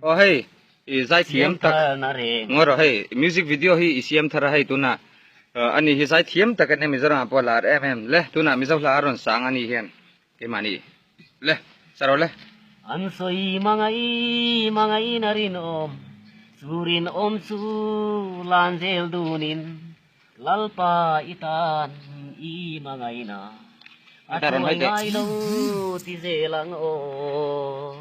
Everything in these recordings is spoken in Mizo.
Aw hei i zai thiam tak ngawi rawh hei music video hi i siam thar a hei tuna a nih hi zai thiam tak en em Mizoram ah pawh a lar em em le tunah Mizo hla a rawn sang a nih hian keimahni le sa rawh le. An sawi mangai mangaiin a rinawm chu rinawm chu lan zel dunin. Lalpa i tan i hmangaihna a hruai ngai lo ti zel ang aw.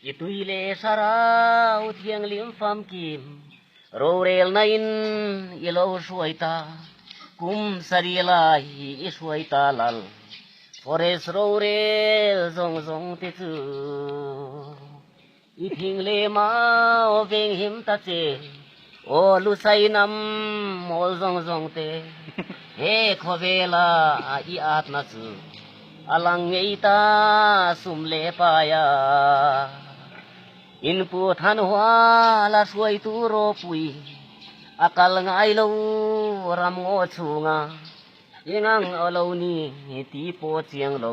I tui leh Sarau thianghlim famkim rorelna in i lo hruai ta, kum sarih lai i hruai ta lal forest rorel zawng zawng te chu. I thing hle mau veng him ta che aw Lusai nam mawl zawng zawng te He khawvela i atna chu a lang ngei ta sum leh pai a In pu Thanhuala hruai tu ropui a kal ngai lo ram ngaw chhunga I ngang aw lo ni tih pawh chiang lo.